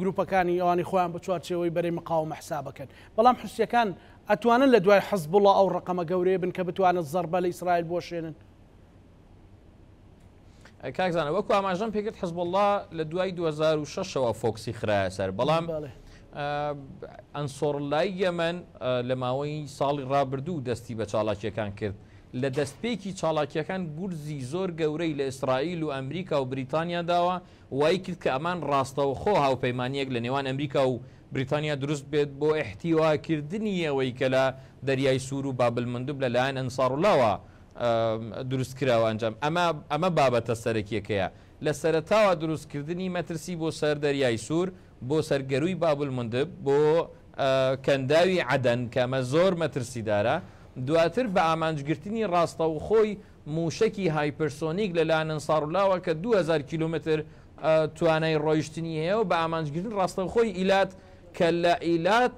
گروپەکانی ئەوانەی خۆیان بە چوارچێوەی بەرەی مقاومە حساب ئەکەن. بەڵام حوسییەکان ئەتوانن لە دوای حزبوڵا ئەو ڕەقەمە گەورەیە بن کە بتوانن زەڕبە لە ئیسرائیل بوەشێنن. کاک زانە وەکو ئاماژەم پێکرد حزبله لە دوای 2006ەوە فۆکسی خراە سەر بەڵام ئەنسۆڕ لای یەمەن لە ماوەی ساڵی ڕابردوو دەستی بە چاڵاکیەکان کرد لە دەستپێکی چاڵاکیەکان گورزی زۆر گەورەی لە ئیسرائیل و ئەمریکا و بریتانیا داوە وای کرد کە ئەمان ڕاستەوە خۆ هاوپەیمانیەک لە نێوان ئەمریکا و بریتانیا دروست بێت بۆ احتیواکردنی ئەوەی کە لە دەریای سوور و بابل مندوب لەلایەن ئەنساڕلاوە دروست کراوە ئەنجام ئەمە ئەمە بابەتە سەرەکیەکەیە لە سەرەتاوە دروست کردنی مەترسی بۆ سەر دەریای سوور بۆ سەر گەرووی بابل مندب بۆ کەنداوی عەدەن کەمە زۆر مەترسی دارە دواتر بە ئامانجگرتنی ڕاستەوخۆی مووشەکی هایپرسۆنیک لە لایەن ئەنسارولاوە کە 2000 کیلومتر توانای ڕۆیشتنی هەیە و بە ئامانجگرتن ڕاستەوخۆی ئیلات کە لە ئیلات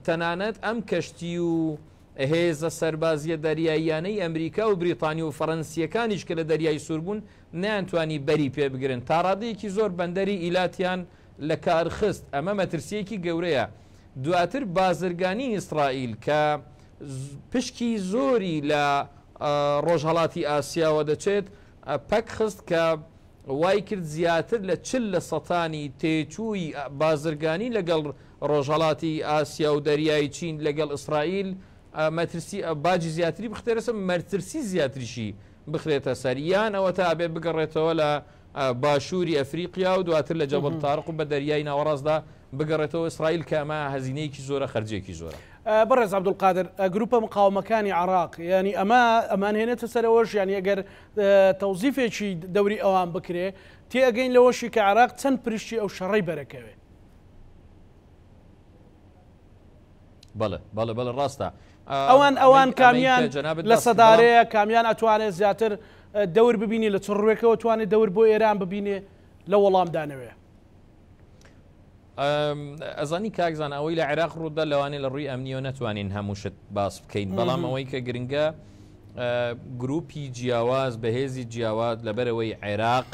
تەنانەت ئەم کەشتی و هێزە سەربازییە دەریاییانەی ئەمریکا و بریتانی و فەرەنسییەکانیش کە لە دەریای سوور بوون نەیانتوانی بەری پێ بگرن، تا ڕادەیەکی زۆر بەندەری ئیلاتیان لە کار خست، ئەمە مەترسییەکی گەورەیە. دواتر بازرگانی ئیسرائیل کە پشکی زۆری لە ڕۆژهەڵاتی ئاسیاوە دەچێت، پەک خست کە وای کرد زیاتر لە چل لە سەتانی تێچووی بازرگانی لەگەڵ ڕۆژهەڵاتی ئاسیا و دەریای چین لەگەڵ ئیسرائیل مەترسی باجی زیاتری بخرێتە سەر مەرترسی زیاتریشی بخرێتە سەر یان ئەوەتا ئەبێ بگەڕێتەوە لە باشووری ئەفریقیا و دواتر لە جەبل تارق و بە دەریای ناوەڕاستدا بگەڕێتەوە ئیسرائیل کە ئەمە هەزینەیەکی زۆرە خەرجێکی زۆرە بەڕێز عبدولقادر گروپە مقاومەکانی عراق ینی ئەمە ئەمانهێنێتە سەرەوەش یانی ئەگەر تەوزیفێکی دەوری ئەوان بکرێ، تێئەگەین لەوەشی کە عێراق چەند پرشتی ئەو شەڕەی بەرەکەوێ. بەڵێ بەڵێ بەڵێ ڕاستە. ئەوان ئەوان کامیان لە سەدارەیە کامیان ئەتوانێت زیاتر دەور ببینی لە چڕوێکەوە توانێت دەور بۆ ئێران ببینێ لە وەڵامدانەوەێ. ئەزانی کاکزان ئەوەی لە عێراق ڕوودا لەوانێ لە ڕووی ئەمنیۆ نتوانین هەمووشت باس بکەین بەڵام ئەوەی کە گرنگە گروپی جیاواز بەهێزی جیاواز لەبەرەوەی عێراق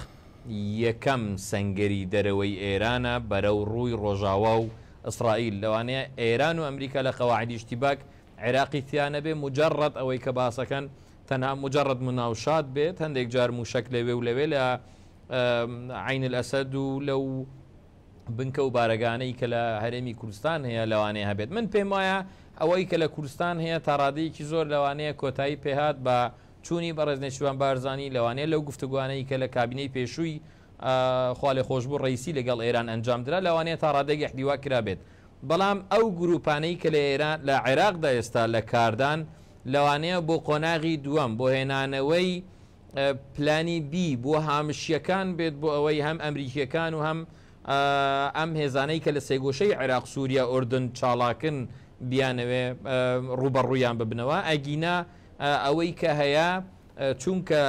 یەکەم سنگری دەرەوەی ئێرانە بەرە و ڕووی ڕۆژاوا و ئیسرائیل لەوانەیە ئێران و ئەمریکا لە قەواعدیشتی باک عێراقی تیانەبێ مجرڕەت ئەوەی کە باسەکەن تەنها مجرد مناوشات بێت هەندێک جار موشەک لەوێ و لەوێ لە عین الاسد و لەو بنکە و بارەگانەی کە لە هەرێمی کوردستان هەیە لەوانەیە هەبێت من پێم وایە ئەوەی کە لە کوردستان هەیە تاڕادەیەکی زۆر لەوانەیە کۆتایی پێهات بە چوونی بەڕێز نێچوان بارزانانی لەوانەیە لەو گفتوگوانەی کە لە کابینەی پێشووی خاڵێ خۆشببوو ڕیسی لەگەڵ ئێران ئەنجام درا لەوانەیە تا ڕادێگە حدیوا کرابێت بەڵام ئەو گروپانەی کە لە ئێران لە عێراقدا ئێستا لە کاردان لەوانەیە بۆ قۆناغی دووەم بۆ هێنانەوەی پلانی بی بۆ هامشیەکان بێت بۆ ئەوەی هەم ئەمریکیەکان و هەم ئەم هێزانەی کە لە سێگۆشەی عێراق سووریا ئۆردن چاڵاکن بیانەوێ ڕوبەڕویان ببنەوە ئەگینا ئەوەی کە هەیە چونکە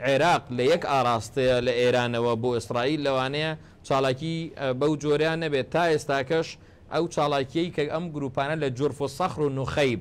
عێراق لە یەک ئاراستەیە لە ئێرانەوە بۆ ئیسرائیل لەوانەیە چاڵاکی بەو جۆریان نەبێت تا ئێستاکەش ئەو چاڵاکیەی کە ئەم گروپانە لە جرف و سەخر و نوخەیب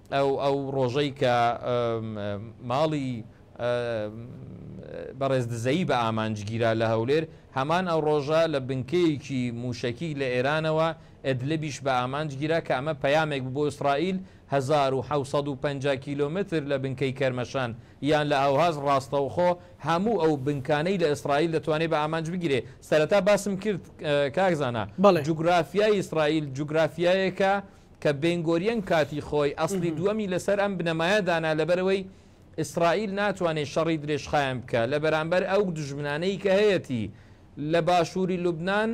ئەو ئەو ڕۆژەی کە ماڵی بەڕێز دزەیی بە ئامانج گیرا لە هەولێر، هەمان ئەو ڕۆژە لە بنکەیەکی مووشەکی لە ئێرانەوە ئێدلبیش بە ئامانج گیرا کە ئەمە پەیامێک بوو بۆ ئیسرائیل هەزار و حەوت سەد و پەنجا کیلۆمەتر لە بنکەی کەرمەشان یان لە ئەوهاز ڕاستەوخۆ هەموو ئەو بنکانەی لە ئیسرائیل دەتوانێت بە ئامانج بگیرێت. سەرەتا باسم کرد کاک زانا جوگرافیای ئیسرائیل جوگرافیایەکە کە بێنگۆریەن کاتی خۆی ئەسڵی دووەمی لەسەر ئەم بنەمایە دانا لەبەرئەوەی ئیسڕائیل ناتوانێت شەڕی درێژخایەن بکا لەبەرامبەر ئەو دوژمنانەی کە هەیەتی لە باشووری لوبنان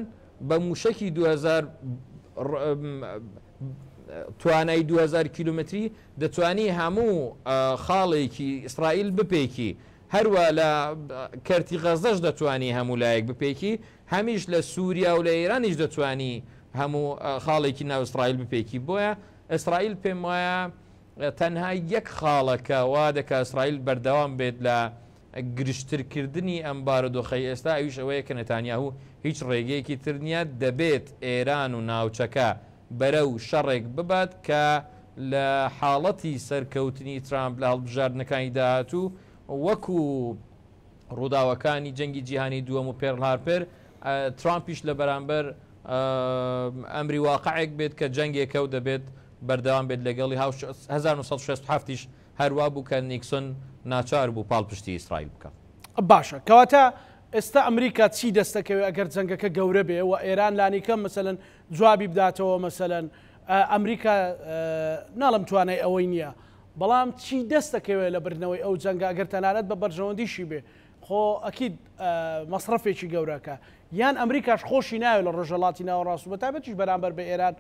بە مووشەکی دوو هەزار توانای دوو هەزار کیلومەتری دەتوانی هەموو خاڵێکی ئیسڕائیل بپێکی هەروە لە کەرتی غەزەش دەتوانی هەموو لایەک بپێکی هەمیش لە سوریا و لە ئێرانیش دەتوانی هەموو خاڵێکی ناو ئیسرائیل بپێکی بۆیە ئیسرائیل پێم وایە تەنها یەک خاڵەکە وا دەکا ئیسرائیل بەردەوام بێت لە گرشترکردنی ئەم بارودۆخی ئێستا ئەویش ئەوەیە کە نەتانیاهو هیچ ڕێگەیەکی تر نییە دەبێت ئێران و ناوچەکە بەرەو شەڕێک ببات کە لە حاڵەتی سەرکەوتنی ترامپ لە هەڵبژاردنەکانی داهاتوو وەکو ڕووداوەکانی جەنگی جیهانی دووەم و پێرڵ هارپێر، ترامپیش لە بەرامبەر ئەمری واقعێک بێت کە جەنگێکە و دەبێت بەردەوام بێت لەگەڵی، هزار و نۆ سەد و شەست و حەفت یش هەر وا بوو کە نیکسۆن ناچار بوو پاڵپشتی ئیسرائیل بکات. باشە کەواتە ئێستا ئەمریکا چی دەست دەکەوێت ئەگەر جەنگەکە گەورە بێ و ئێران لانیکەم مەسەلەن جوابی بداتەوە مەسەلەن ئەمریکا ناڵێم توانای ئەوەی نییە بەڵام چی دەست دەکەوێت لە بردنەوەی ئەو جەنگە گەر تەنانەت بە بەرژەوەندیشی بێ خۆ ئەکید مەسرەفێکی گەورەکە یان ئەمریکاش خۆشی ناوێت لە ڕۆژەڵاتی ناوەڕاست و بەتابەتیش بەرامبەر بە ئێران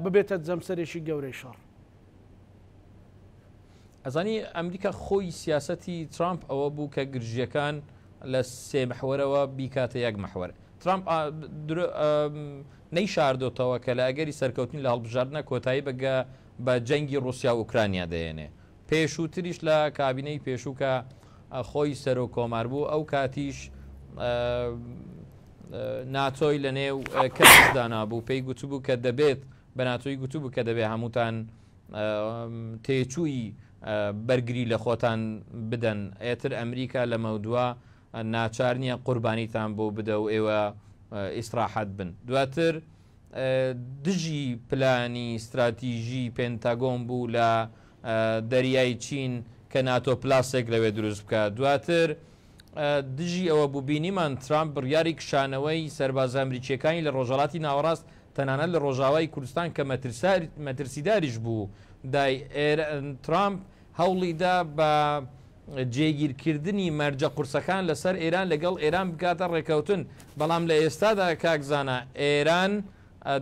ببێتە جەمسەرێکی گەورەی شەڕ. ئەزانی ئەمریکا خۆی سیاسەتی ترامپ ئەوە بوو کە گرژیەکان لە سێ محوەرەوە بیکاتە یەک محوەر ترامپ نەی شاردۆتەوە کە لە ئەگەری سەرکەوتنی لە هەڵبژاردنە کۆتایی بەگە بە جەنگی ڕوسیا و ئوکرانیا دەێنێ پێشوتریش لە کابینەی پێشوو کە خۆی سەرۆک کۆمار بوو ئەو کاتیش ناتۆی لە نێو کەس دانابوو پێی گوتبوو کە دەبێت بە ناتۆی گوتبوو کە دەبێت هەمووتان تێچووی بەرگری لە خۆتان بدەن ئێتر ئەمریکا لە مەودوا ناچار نییە قوربانیتان بۆ بدە و ئێوە ئیسراحەت بن دواتر دژی پلانی ستراتیژی پێنتاگۆن بوو لە دەریای چین کە ناتۆ پلاسێک لەوێ دروست بکە دواتر دژی ئەوە بوو بینیمان ترامپ بڕیاری کشانەوەی سەربازە ئەمریکیەکانی لە ڕۆژهڵاتی ناوەڕاست تەنانەت لە ڕۆژاوای کوردستان کە مەترسیداریش بوو دای ترامپ هەوڵیدا بە جێگیرکردنی مەرجە قورسەکان لەسەر ئێران لەگەڵ ئێران بکاتە ڕێکەوتن، بەڵام لە ئێستادا کاک زانا ئێران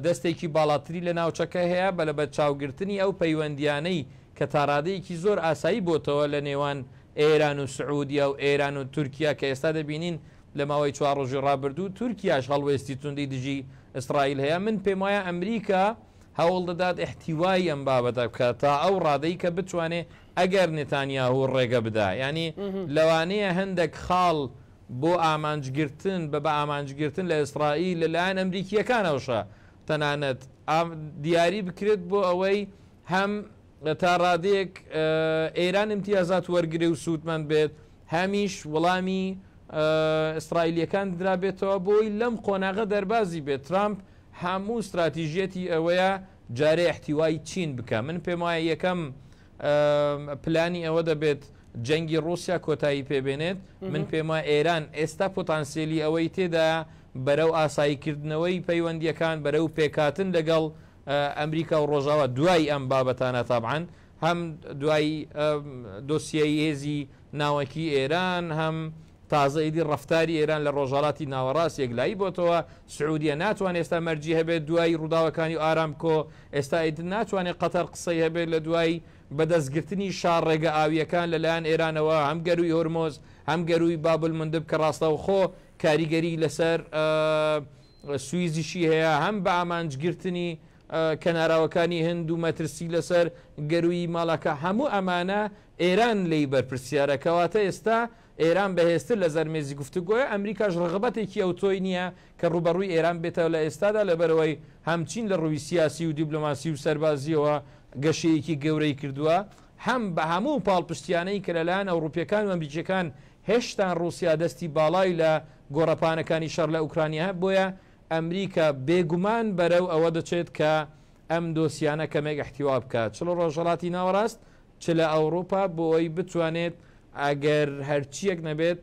دەستێکی باڵاتری لە ناوچەکە هەیە بە لەبەرچاوگرتنی ئەو پەیوەندییانەی کە تاڕادەیەکی زۆر ئاسایی بۆتەوە لە نێوان ئێران و سعودیە و ئێران و تورکیا کە ئێستا دەبینین لە ماوەی چوار ڕۆژی ڕابردوو تورکیاش هەڵوێستی توندی دژی ئیسرائیل هەیە من پێموایە ئەمریکا هەوڵ دەدات ئیحتیوای ئەم بابەتە بکات تا ئەو ڕادەی کە بتوانێ ئەگەر نتانیاهو ڕێگە بدا ینی لەوانەیە هەندێک خاڵ بۆ ئامانجگرتن بە بە ئامانجگرتن لە ئیسرائیل لەلایەن ئەمریکیەکانەوەشە تەنانەت دیاری بکرێت بۆ ئەوەی هەم تا ڕادێک ئێران امتیازات وەرگێ و سوودمەند بێت هەمیش وەڵامی ئیسرائیلەکان درابێتەوە بۆی لەم قۆناغە دەربازی بێت ترامپ هەموو ستراتیژیەتی ئەوەیە جارێ احتیوای چین بکە من پێم وایە یەکەم پلانی ئەوە دەبێت جەنگی ڕوسیا کۆتایی پێبێنێت من پێم وایە ئێران ئێستا پۆتانسیلی ئەوەی تێدا بەرەو ئاساییکردنەوەی پەیوەندیەکان بەرەو پێکاتن لەگەڵ ئەمریکا و ڕۆژاوا دوای ئەم بابەتانە تابعاان هەم دوای دۆسیایی هێزی ناوەکی ئێران هەم تازە ئیدی ڕەفتاری ئێران لە ڕۆژهەڵاتی ناوەڕاست یەکلایی بۆتەوە سعودیە ناتوانێت ئێستا مەرجی هەبێت دوای ڕووداوەکانی و ئارامکۆ ئێستا ئیدن ناتوانێت قەتەر قسەی هەبێت لە دوای بەدەستگرتنی شار ڕێگە ئاویەکان لەلایەن ئێرانەوە هەم گەروی هۆرمۆز هەم گەروی بابل مندب کە ڕاستەوخۆ کاریگەری لەسەر سویزیشی هەیە هەم بە ئامانجگرتنی کەناراوەکانی هند و مەترسی لەسەر گەروی ماڵەکە هەموو ئەمانە ئێران لێی بەرپرسیارە، کەواتە ئێستا ئێران بەهێزتر لەزەر مێزی گفتوگۆیە، ئەمریکاش ڕغبەتێکی ئەوتۆی نییە کە ڕووبەڕووی ئێران بێتەوە لە ئێستادا، لەبەرئەوەی هەم چین لە ڕووی سیاسی و دیبلۆماسی و سەربازییەوە گەشەیەکی گەورەی کردووە، هەم بە هەموو پاڵپشتییانەی کە لەلایەن ئەوڕوپییەکان و ئەمریکییەکان هێشتان ڕووسیا دەستی باڵای لە گۆڕەپانەکانی شەڕ لە ئوکرانیایە، بۆیە ئەمریکا بێگومان بەرەو ئەوە دەچێت کە ئەم دۆسیانە کەمێک ئیحتیوا بکات، چ لە ڕۆژهەڵاتی ناوەڕاست چ لە ئەوڕوپا بۆی بتوانێت ئەگەر هەرچیەک نەبێت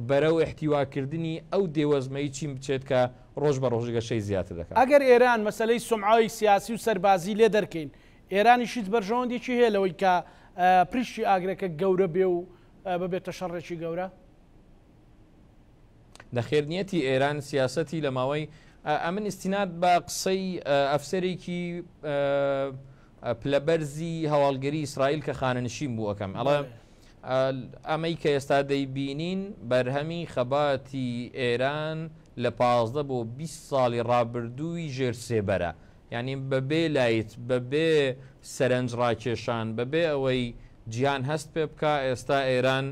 بەرەو احتیواکردنی ئەو دێوەزمەی چین بچێت کە ڕۆژ بە ڕۆژ گەشەی زیاتر دەکات. ئەگەر ئێران مەسەلەی سومعەی سیاسی و سەربازی لێ دەرکەین ئێرانیش هیچ بەرژەوەندێکی هەیە لەوەی کە پریشکی ئاگرەکە گەورە بێ و ببێتە شەڕێکی گەورە؟ نەخێر نیەتی ئێران سیاسەتی لە ماوەی ئەمن ئستینات بە قسەی ئەفسەرێکی پلەبەرزی هەواڵگەری ئیسرائیل کە خانەنشین بوو ئەەکەم ئەڵە ئەمەی کە ئێستا دەیبینین بەرهەمی خەباتی ئێران لە پازدە بۆ 20 ساڵی ڕابردووی ژێر سێبەرە یعنی بەبێ لایت بەبێ سەرنج ڕاکێشان بەبێ ئەوەی جیان هەست پێ بکە ئێستا ئێران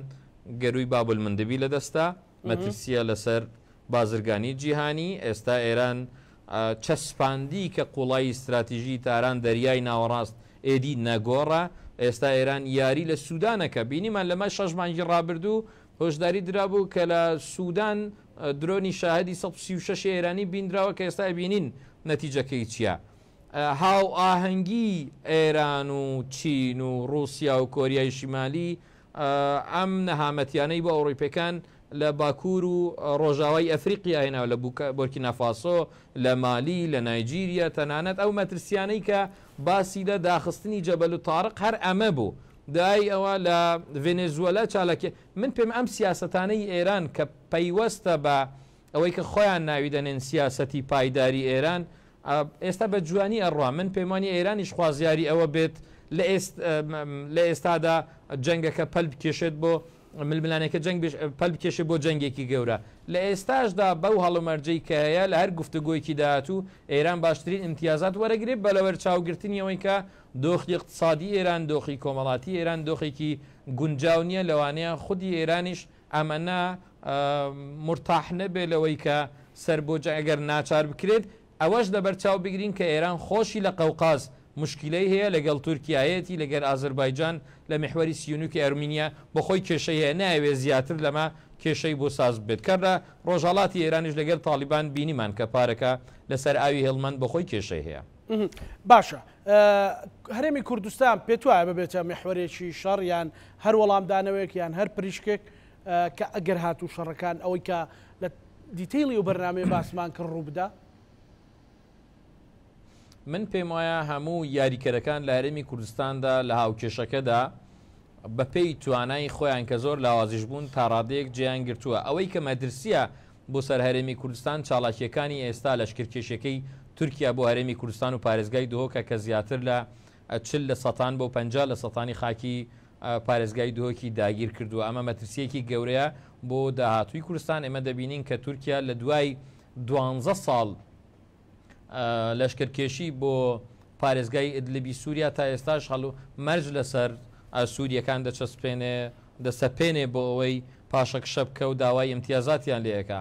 گەرووی باب المندبی لەدەستە، مەترسییە لەسەر بازرگانیی جیهانی، ئێستا ئێران چەسپاندی کە قووڵایی ستراتیژیی تاران دەریای ناوەڕاست ئێدی نەگۆڕە، ئێستا ئێران یاری لە سوودان ئەکا، بینیمان لەمە شەش مانگی ڕابردوو هۆشداری درابوو کە لە سوودان درۆنی شاهدی سەد و سی و شەش ئێرانی بینراوە کە ئێستا ئەبینین نەتیجەکەی چییە. هاوئاهەنگیی ئێران و چین و ڕووسیا و کۆریای شیمالی ئەم نەهامەتیانەی بۆ ئەوڕیپەکان لە باکوور و ڕۆژاوای ئەفریقیا هێناوە لە بۆرکینافاسۆ، لە مالی، لە نایجیریا، تەنانەت ئەو مەترسیانەی کە باسی لە داخستنی جەبەلو تاڕق هەر ئەمە بوو، دوای ئەوە لە ڤێنێزوەلا چالاکیە من پێم ئەم سیاسەتانەی ئێران کە پەیوەستە بە ئەوەی کە خۆیان ناوی دەنێن سیاسەتی پایداری ئێران ئێستا بە جوانی ئەڕوا من پێم وانیە ئێرانیش خوازیاری ئەوە بێت لە ئێستادا جەنگەکە پەل بکێشێت بۆ ململانێکە جەنگ پەل بکێشێت بۆ جەنگێکی گەورە لە ئێستاشدا بەو هەڵومەرجەی کە هەیە لە هەر گفتوگۆیەکی داهاتوو ئێران باشترین ئیمتیازات وەرەگرێت بە لەوەر چاوگرتنیەوەی کە دۆخی اقتصادی ئێران دۆخی کۆمەڵاتی ئێران دۆخێکی گونجاو نییە لەوانەیە خودی ئێرانیش ئەمەە مورتاح نەبێت لەوەی کە سەر بۆ جەنگ ئەگەر ناچار بکرێت، ئەوەش لەبەر چاو بگرین کە ئێران خۆشی لە قەوقاز موشکیلەی هەیە لەگەڵ تورکیا هەیەتی لەگەر ئازەربایجان لە میحوەری سیونوکی ئەرمینیا بۆ خۆی کێشەی هەیە نایەوێت زیاتر لەمە کێشەی بۆ ساز ببێت کە لە ڕۆژهەڵاتی ئێرانیش لەگەر تاڵیبان بینیمان کە پارەکە لە سەر ئاوی هێڵمەند بۆ خۆی کێشەی هەیە. باشە هەرێمی کوردستان پێت وایە ببێتە میحوەرێکی شەڕ یان هەر وەڵامدانەوەیەک یان هەر پریشکێک کە ئەگەر هاتوو شەڕەکان ئەوەی کە لە دیتەیڵی و بەرنامەی باسمان کە ڕووبدا. من پێم وایە هەموو یاریکەرەکان لە هەرێمی کوردستاندا لە هاوکێشەکەدا بەپێی توانای خۆیان کە زۆر لاوازیش بوون تاڕادەیەک جێیان گرتووە ئەوەی کە مەدرسیە بۆ سەر هەرێمی کوردستان چاڵاکیەکانی ئێستا لەشکرکێشەکەی تورکیا بۆ هەرێمی کوردستان و پارێزگای دهۆکە کە زیاتر لە چل لە سەتان بۆ پەنجا لە سەتانی خاکی پارێزگای دهۆکی داگیر کردووە، ئەمە مەترسییەکی گەورەیە بۆ داهاتووی کورستان، ئێمە دەبینین کە تورکیا لە دوای دوانزە ساڵ لەشکرکێشی بۆ پارێزگای ئیدلبی سووریا تا ئێستاش هەڵو مەرج لەسەر سوورییەکان دەچەسپێنێ دەسەپێنێ بۆ ئەوەی پاشەکشە بکە و داوای ئیمتیازاتیان لێ ئەکا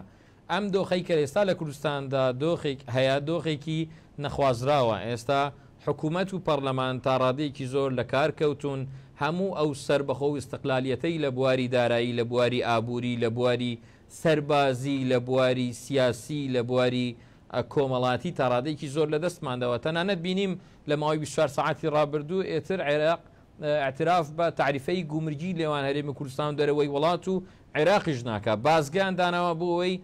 ئەم دۆخەی کە ئێستا لە کوردستاندا دۆخێک هەیە دۆخێکی نەخوازراوە، ئێستا حکومەت و پەڕلەمان تا ڕادەیەکی زۆر لە کار کەوتوون، هەموو ئەو سەربەخۆ و ئیستقلالیەتەی لە بواری دارایی، لە بواری ئابووری، لە بواری سەربازی، لە بواری سیاسی، لە بواری کۆمەڵاتی تا ڕادەیەکی زۆر لە دەستمان داوە، تەنانەت بینیم لە ماوەی بیست و چوار سەعاتی ڕابردوو ئێتر عێراق ئیعتراف بە تەعریفەی گومرگی لێوان هەرێمی کوردستان و دەرەوەی وڵات و عێراقیش ناکا، بازگەیان داناوە بۆ ئەوەی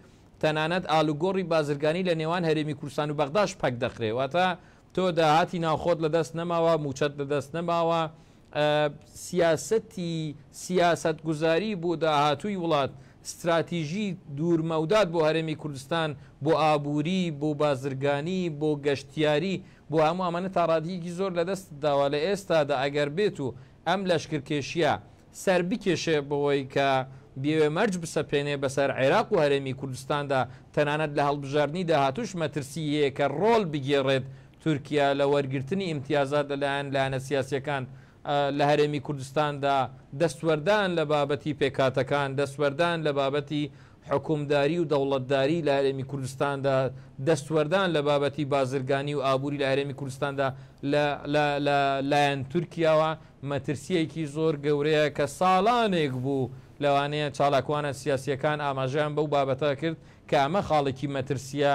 تەنانەت ئالوگۆڕی بازرگانی لە نێوان هەرێمی کوردستان و بەغداش پەک دەخرێ، واتە تۆ داهاتی ناوخۆت لە دەست نەماوە، مووچەت لە دەست نەماوە، سیاسەتی سیاسەتگوزاری بۆ داهاتووی وڵات، ستراتیژی دوورمەودات بۆ هەرێمی کوردستان، بۆ ئابووری، بۆ بازرگانی، بۆ گەشتیاری، بۆ هەموو ئەمانە تا ڕادیەکی زۆر لە دەستت داوە لە ئێستادا ئەگەر بێت و ئەم لەشکرکێشیە سەر بکێشێ بەوەی کە بیەوێ مەرج بسەپێنێ بەسەر عێراق و هەرێمی کوردستاندا تەنانەت لە هەڵبژاردنی داهاتووش مەترسی هەیە کە ڕۆڵ بگێڕێت تورکیا لە وەرگرتنی ئیمتیازات لە لایەن لایەنە سیاسیەکان لە هەرێمی کوردستاندا دەستوەردان لە بابەتی پێکهاتەکان، دەستوەردان لە بابەتی حوکمداری و دەوڵەتداری لە هەرێمی کوردستاندا، دەستوەردان لە بابەتی بازرگانی و ئابووری لە هەرێمی کوردستاندا لە لە لە لایەن تورکیاوە مەترسییەکی زۆر گەورەیە کە ساڵانێک بوو لەوانەیە چالاکوانە سیاسییەکان ئاماژەیان بەو بابەتە کرد کە ئەمە خاڵێکی مەترسییە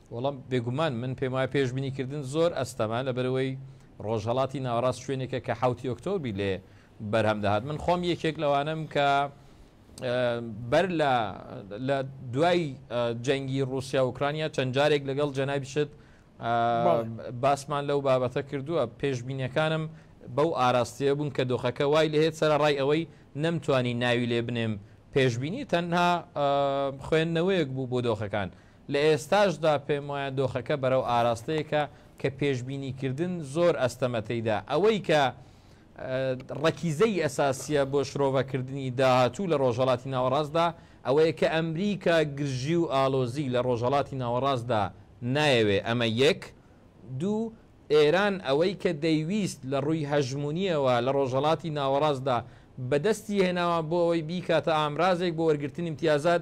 وەڵا بێگومان من پێم وایە پێشبینی کردن زۆر ئەستەمە لەبەرئەوەی ڕۆژهەڵاتی ناوەڕاست شوێنێکە کە حەوتی ئۆکتۆبی لێ بەرهەم دەهات من خۆم یەکێک لەوانم کە بەر لە لە دوای جەنگی رووسیا ئۆکرانیا چەند جارێک لەگەڵ جەنای بشت باسمان لەو بابەتە کردووە پێشبینەکانم بەو ئاراستەیە بوون کە دۆخەکە وای لەهێت سەر ڕای ئەوەی نەمتوانی ناوی لێ بنێم پێشببینی تەنها خوێندنەوەیەک بوو بۆ دۆخەکان لە ئێستاشدا پێموایە دۆخەکە بەرەو ئاراستەیەکە کە پێشبینیکردن زۆر ئەستەمە تێیدا، ئەوەی کە ڕەکیزەی ئەساسییە بۆ شرۆڤەکردنی داهاتوو لە ڕۆژهەڵاتی ناوەڕاستدا ئەوەیە کە ئەمریکا گرژی و ئاڵۆزی لە ڕۆژهەڵاتی ناوەڕاستدا نایەوێ، ئەمە یەک. دوو، ئێران ئەوەی کە دەیویست لە ڕووی هەژموونییەوە لە ڕۆژهەڵاتی ناوەڕاستدا بەدەستی هێناوە بۆ ئەوەی بیکاتە ئامرازێک بۆ وەرگرتنی ئیمتیازات،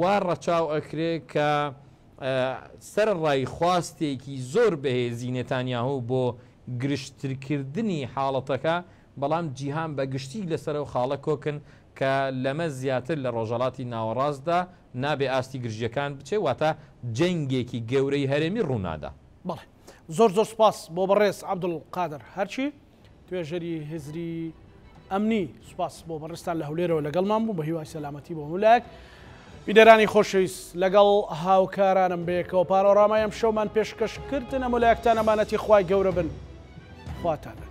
وا ڕەچاو ئەکرێ کە سەرەڕای خواستێکی زۆر بەهێزی نێتانیاهۆ بۆ گرژترکردنی حاڵەتەکە، بەڵام جیهان بە گشتی لەسەر ئەو خاڵە کۆکن کە لەمە زیاتر لە ڕۆژهەڵاتی ناوەڕاستدا نابێ ئاستی گرژییەکان بچێ، واتە جەنگێکی گەورەی هەرێمی ڕوونادا. بەڵێ. زۆر زۆر سوپاس بۆ بەڕێز عەبدولقادر هەرچی. توێژەری هزری ئەمنی سوپاس بۆ بەڕستان لە هەولێرەوە لەگەڵمان بوو بە هیوای سەلامەتی بۆ مولایەک بیدەرانی خۆشەویست لەگەڵ هاوکارانم بەیەکەوە پانۆڕامای ئەم شەومان پێشکەش کردنە مولایەکتان ئەمانەتی خوای گەورە بن خواتان بن